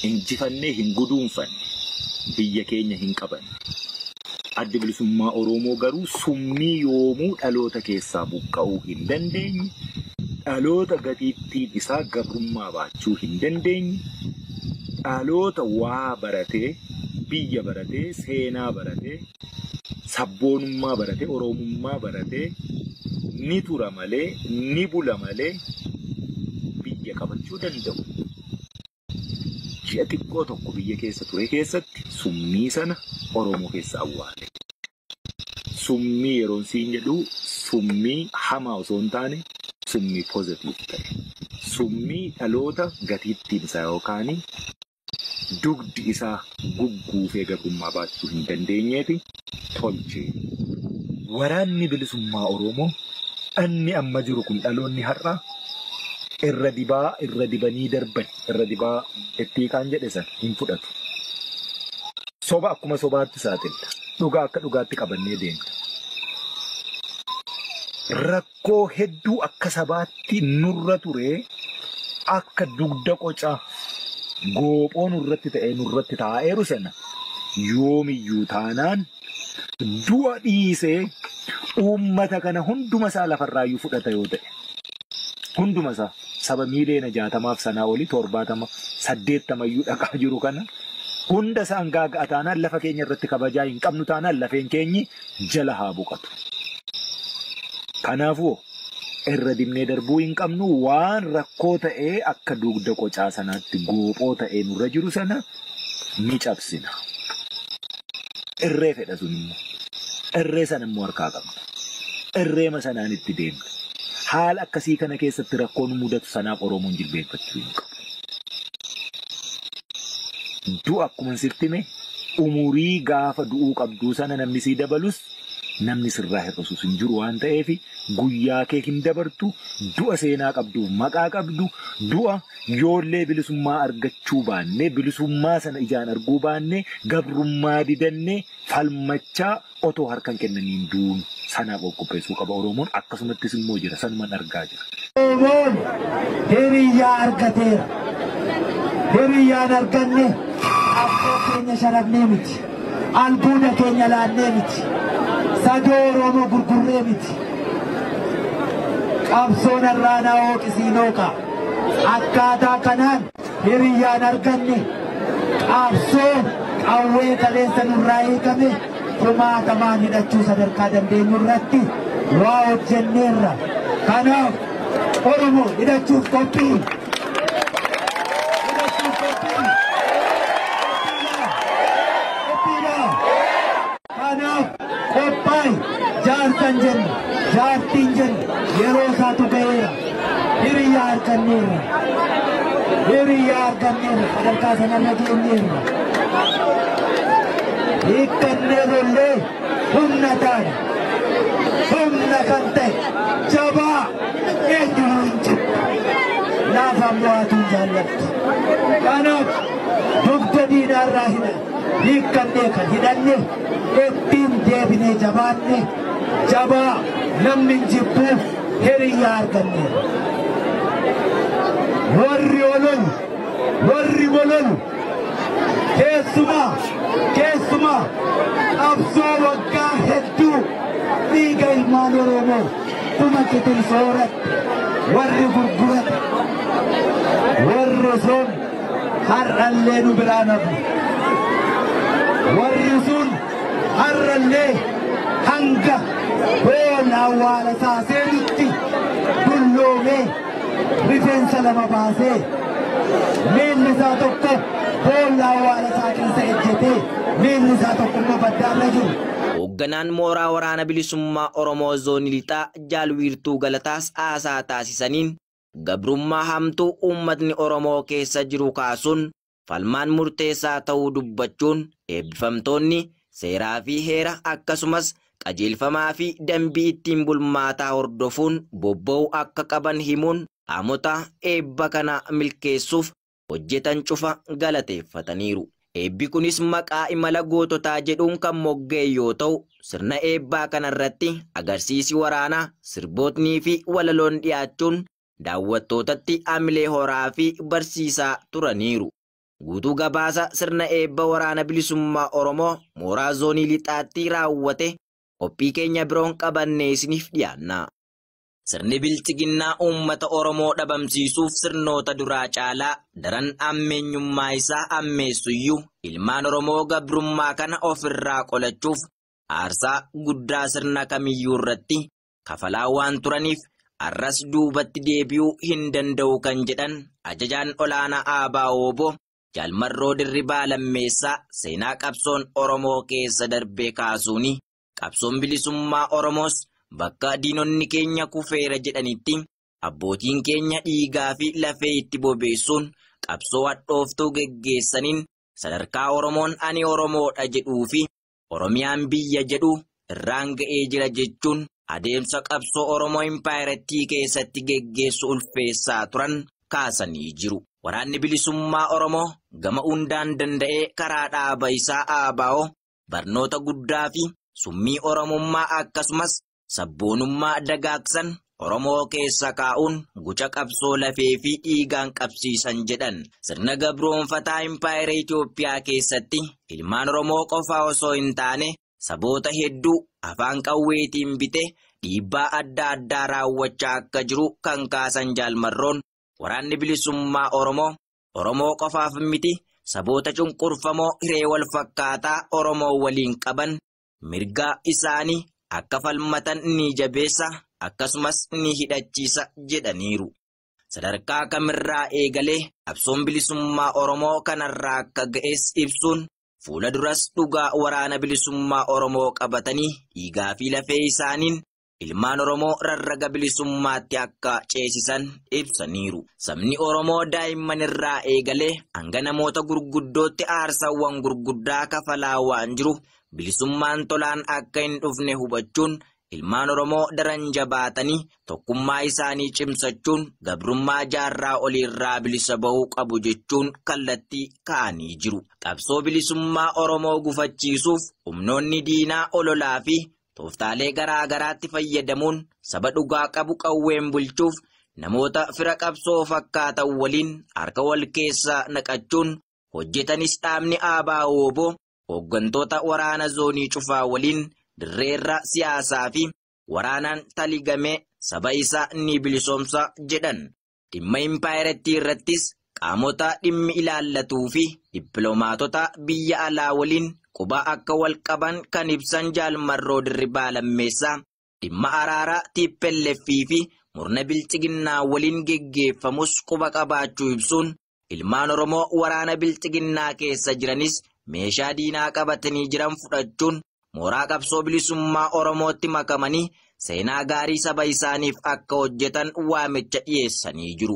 Injifannee hin guduunfanne, biyya keenya hin qabanne. Addi Bilisummaa Oromoo garuu summii yoomuu dhaloota keessaa buqqa'uu hin dandeenye, dhaloota gatiittiin isaa gabrummaa baachuu hin dandeenye, dhaloota waa baratee, biyya baratee, seenaa baratee, sabboonummaa barate, Oromummaa barate ni tura malee, ni bula malee biyya qabachuu danda'u. Ji'a xiqqoo tokko biyya keessa ture keessatti summii sana Oromoo keessa awwaale. Summii yeroon siin jedhu summii hamaa osoo hin taane summii pozitiiv ta'e. Summii dhaloota gatiittiin isaa yookaan dugdi isaa gugguufee gabrummaa baachuu hin dandeenyeeti tolche. Waraanni Bilisummaa Oromoo dhanni amma jiru kun dhaloonni har'aa irra dibaa irra dibanii darban irra dibaa itti hiiqaan jedhe sana hin fudhatu. Soba akkuma sobaatti saaxilla. Dhugaa akka dhugaatti qabannee deemna. Rakkoo hedduu akka sabaatti nurra ture akka dugda qoca goophoo nurratti ta'ee nurratti taa'eeru sana yoomiyyuu taanaan du'a dhiisee uummata kana hunduma isaa lafarraayyuu fudhata yoo ta'e hunduma isaa saba miiliyoona jaatamaaf sanaa olii torbaatama saddeettamayyuu dhaqaa jiru kana hunda isaan gaaga'a taanaan lafa keenya irratti kabajaa hin qabnu taanaan lafeen keenyi jala haa boqatu. Kanaafuu irra dibnee darbuu hin qabnu waan rakkoo ta'ee akka dugda qocaa sanaatti goophoo ta'ee nurra jiru sana ni cabsina. Irree fedha sun immoo. Irree sana immoo harkaa qabna. Irreema sanaan itti deemna. Haala akkasii kana keessatti rakkoo nu mudatu sanaaf Oromoon jilbeenfachuu hin qabu. Du'a akkuma sirtti mee Umurii gaafa du'uu qabduu sana namni sii dabalus namni sirraa hir'isus hin jiru waan ta'eef guyyaa kee hin dabartu du'a seenaa qabduuf maqaa qabdu du'a yoollee bilisummaa argachuu baannee bilisummaa sana ijaan arguu baannee gabrummaa didannee falmachaa Otoo harka hin kennamiin duun sanaaf of qopheessuu qaba Oromoon akkasumattis immoo jira sanuman argaa jira. Oromoon hiriyyaa argateera. Hiriyyaa hin arganne qabsoo keenya sharafnee miti. Albuuda keenya laannee miti. Sadoo Oromoo gurgurree miti. Qabsoon har'aa na hooqisiin hooqa. Akkaataa kanaan. Hiriyyaan arganne qaabsoo qawwee kaleessa nurraa hiikame kumaatamaan hidhachuu sadarkaa dandeenyu irratti waa hojjenneerra. Kanaaf Oromoo hidhachuuf qophii. Kanaaf qophaa'i, jaarsan jenna, jaartiin jenna, yeroo isaatu ga'eera. Hiriyaa arganneerra. Hiriyaa arganneerra. Sadarkaa sanarra geenyeerra. Hiikkannee lollee humna taane. Humna kan ta'e jabaa eenyumaa hin jiru. Laafaan mo'atuu hin jaallatti. Kanaaf dugda diinaarraa hidha. hiikkannee kan hidhanne ittiin deebinee jabaanne jabaa namni hin jibbu hiriyyaa arganneera. Warri ololu, warri bololu keessumaa keessumaa qabsoo waggaa hedduu dhiiga ilmaan Oromoo kuma qitin sooratte warri gurgurate warri osoon har'allee nu biraa nafu. Warri sun har'allee hanga boolla awwaala isaa seenutti dulloomee rifeensa lama baasee miilli isaa tokko boolla awwaala isaa keessa ejjetee miilli isaa tokko immoo baddaarra jiru. Hoogganaan mooraa waraana bilisummaa Oromoo Zoonii Lixaa Jaal Wiirtuu Galataas haasaa taasisaniin gabrummaa hamtuu uummatni Oromoo keessa jiru kaasuun falmaan murteessaa ta'uu dubbachuun eebbifamtoonni seeraa fi heera akkasumas qajeelfamaa fi dambii ittiin bulmaataa hordofuun bobba'uu akka qaban himuun qaamota eebba kana milkeessuuf hojjetan cufa galateeffataniiru. Eebbi kunis maqaa imala goototaa jedhuun kan mogga'e yoo ta'u, sirna eebbaa kanarratti agarsiisi waraanaa, sirbootnii fi walaloon dhiyaachuun daawwattootatti hamilee horaa fi barsiisaa turaniiru. Guutuu gabaasa sirna eebba Waraana Bilisummaa Oromoo mooraa Zoonii Lixaatti raawwate qophii keenya biroon qabannee isiniif dhiyaanna. Sirni Bilxiginnaa uummata Oromoo dhabamsiisuuf sirnoota duraa caalaa daran ammeenyummaa isaa ammeessuyyuu ilmaan Oromoo gabrummaa kana of irraa qolachuuf aarsaa guddaa sirna kamiyyuu irratti kafalaa waan turaniif arras duubatti deebi'uu hin danda'u kan jedhan ajajaan olaanaa Aabaa Ooboo Jaal Marroo Dirribaa Lammeessaa seenaa qabsoon Oromoo keessa darbee kaasuuni Qabsoon bilisummaa Oromoos bakka diinonni keenya kufeera jedhanitti abbootiin keenya dhiigaa fi lafee itti bobeessuun qabsoo hadhooftuu geggeessaniin sadarkaa Oromoon ani Oromoodha jedhuu fi Oromiyaan biyya jedhu irraan ga'ee jira jechuun adeemsa qabsoo Oromoo impaayerattii keessatti geggeessu ulfeessaa turan kaasanii jiru. Waraanni bilisummaa Oromoo gama hundaan danda'ee karaa dhaaba isaa ABO barnoota guddaa fi summii Oromummaa akkasumas sabboonummaa dagaagsan Oromoo keessa kaa'uun guca qabsoo lafee fi dhiigaan qabsiisan jedhan. Sirna gabroonfataa Impaayera Itoophiyaa keessatti ilmaan Oromoo qofaa osoo hin taane saboota hedduu afaan qawweetiin bite dhiibbaa adda addaa raawwachaa akka jiru kan kaasan jaalmarroon waraanni bilisummaa Oromoo Oromoo qofaaf miti saboota cunqurfamoo hiree wal fakkaataa Oromoo waliin qaban mirgaa isaanii akka falmatan ni jabeessa akkasumas ni hidhachiisa jedhaniiru. Sadarkaa kamirraa eegalee qabsoon bilisummaa Oromoo kanarraa akka ga'es ibsuun fuula duras dhugaa waraana bilisummaa Oromoo qabatanii dhiigaa fi lafee isaaniin ilmaan Oromoo rarraga bilisummaatti akka ceesisan ibsaniiru. Sabni Oromoo daa'imman irraa eegalee hanga namoota gurguddootti aarsaawwan gurguddaa kafalaa waan jiru bilisummaan tolaan akka hin dhufne hubachuun ilmaan Oromoo daran jabaatanii tokkummaa isaanii cimsachuun gabrummaa jaarraa oliirraa bilisa ba'uu qabu jechuun kallattii ka'anii jiru. Qabsoo bilisummaa Oromoo gufachiisuuf humnoonni diinaa ololaa fi Tooftaalee garaa garaatti fayyadamuun saba dhugaa qabu qawween bulchuuf namoota fira qabsoo fakkaatan waliin harka wal keessa naqachuun hojjetanis dhaabni ABO-wbo hooggantoota waraana zoonii cufaa waliin dirreerra siyaasaa fi waraanaan taligamee saba isaa ni bilisoomsa jedhan. Dhimma impaayerattii irrattis qaamota dhimmi ilaallatuu fi dippilomaatota biyya alaa waliin quba akka wal qaban kan ibsan Jaal Marroo Dirribaa Lammeessaa, dhimma araaraa tplf fi murna bilxiginnaa waliin geggeeffamus quba qabaachuu ibsuun, Ilmaan Oromoo waraana Bilxiginnaa keessa jiranis meeshaa diinaa qabatanii jiran fudhachuun mooraa qabsoo bilisummaa Oromootti makamanii seenaa gaarii saba isaaniif akka hojjetan waamicha dhiyeessanii jiru.